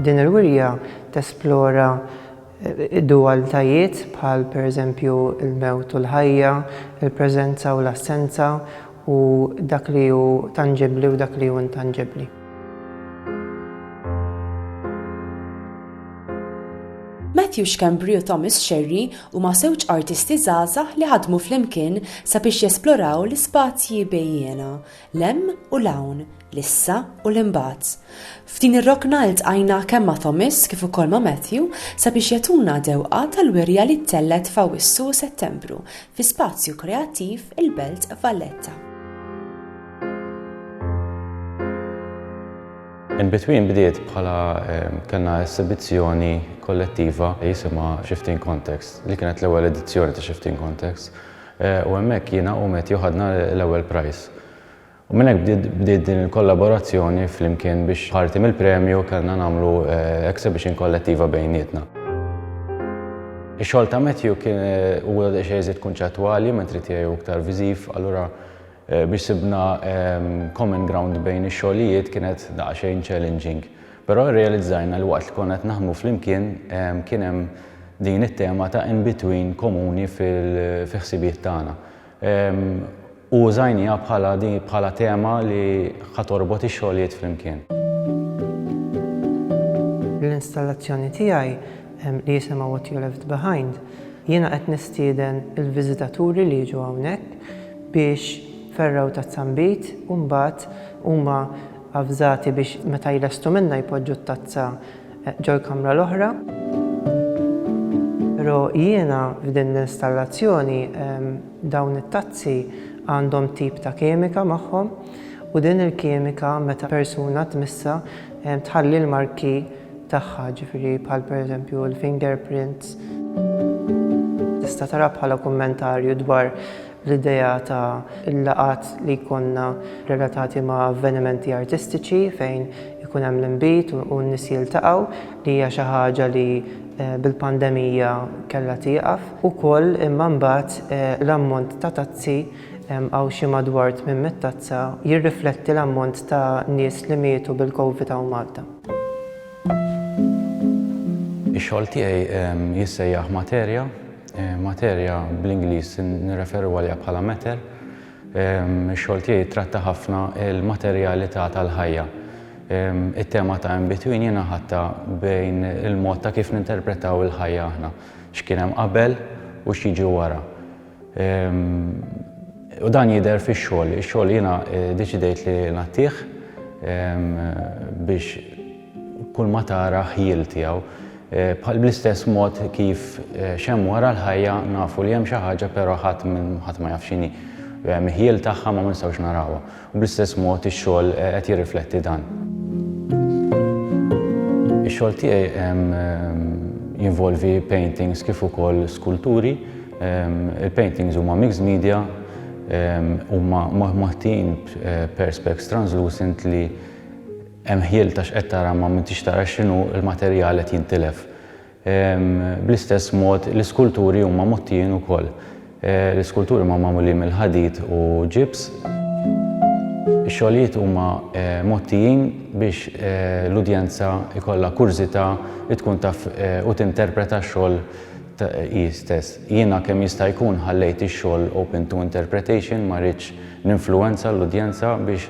Din il-wirja tesplora eh, dualitajiet bħal pereżempju il-mewt u l-ħajja, il-preżenza u l-assenza, u dak li hu tanġibbli u dak li hu intanġibbli. Matthew Schembri u Thomas Scerri huma żewġ artisti żgħażagħ li ħadmu flimkien sabiex jesploraw l-ispazji bejjiena, l-hemm u l-hawn, l-issa u l-imbagħad. F'din ir-rokna ltqajna kemm ma' Thomas kif ukoll ma' Matthew sabiex jagħtuna dewqa tal-wirja li ttellgħet f'Awwissu u Settembru fi spazju kreattiv il-Belt Valletta. In Between bdiet bħala kellna esibizzjoni kollettiva jisimha Shifting Context li kienet l-ewwel edizzjoni ta' Shifting Context u hemmhekk jiena u Matthew ħadna l-ewwel prize. U minn hekk bdiet din il-kollaborazzjoni flimkien biex parti mill-premju kellna nagħmlu exhibition kollettiva bejnietna. Ix-xogħol ta' Matthew kien huwa daqsxejn iżjed kunċettwali mentri tiegħi hu iktar viżiv, allura biex sibna common ground bejn ix-xogħlijiet kienet daqsxejn challenging. Però rrealizzajna li waqt li konna qed naħdmu flimkien kien hemm din it-tema ta' in-between komuni fi ħsibiet tagħna. U użajniha bħala di bħala tema li ħa torbot ix-xogħlijiet flimkien. L-installazzjoni tiegħi li jisimha What You Left Behind, jiena qed nistieden il-viżitaturi li jiġu hawnhekk biex fergħu tazzambit u mbagħad huma avżati biex meta jlestu minnha jpoġġu t-tazza ġol-kamra l-oħra. Pero' jiena f'din l-installazzjoni dawn it-tazzi għandhom tip ta' kimika magħhom u din il-kimika meta persuna tmissha tħalli l-marki tagħha, ġifieri bħal pereżempju l-fingerprints. Tista' taraha bħala kummentarju dwar L-idea ta' l-laqgħat li jkollna relatati ma' avvenimenti artistiċi fejn ikun hemm l-inbid u n-nies jiltaqgħu li hija xi ħaġa li bil-pandemija kellha tieqaf ukoll imma mbagħad l-ammont ta' tazzi hawn xi madwar 800 tazza jirrifletti l-ammont ta' nies li mietu bil-Covid hawn Malta. Ix-xogħol tiegħi jissejjaħ Materja. Materja, bl-Ingliż nirreferu għaliha bħala matter. Ix-xogħol tiegħi jittratta ħafna l-materjalità tal-ħajja. It-tema ta' in between jiena ħadtha bejn il-mod ta' kif ninterpretaw il-ħajja aħna, x'kien hemm qabel u x'jiġi wara. U dan jidher fix-xogħol. Ix-xogħol jiena ddeċidejt li ngħattih biex kulma tara ħjiel tiegħu. Bħal bl-istess mod kif x'hemm wara l-ħajja nafu li hemm xi ħaġa però ħadd ħadd ma jaf x'inhi. Hemm ħjiel tagħha ma ma nistgħux narawha. U bl-istess mod ix-xogħol qed jirrifletti dan. Ix-xogħol tiegħi jinvolvi paintings kif ukoll skulturi. Il-paintings huma mixed media, huma moħtijin b'perspex translucent li Hemm ħjiel ta' x'qed tara ma m'intix tara x'inhu l-materjal qed jintilef. Bl-istess mod l-iskulturi huma mgħottijin ukoll. L-iskulturi huma magħmulin mill-ħadid u ġibs. Ix-xogħlijiet huma mgħottijin biex l-udjenza jkollha kurżità li tkun taf u tinterpreta x-xogħol hi stess. Jiena kemm jista' jkun ħallejt ix-xogħol open to interpretation ma ridtx ninfluwenza l-udjenza biex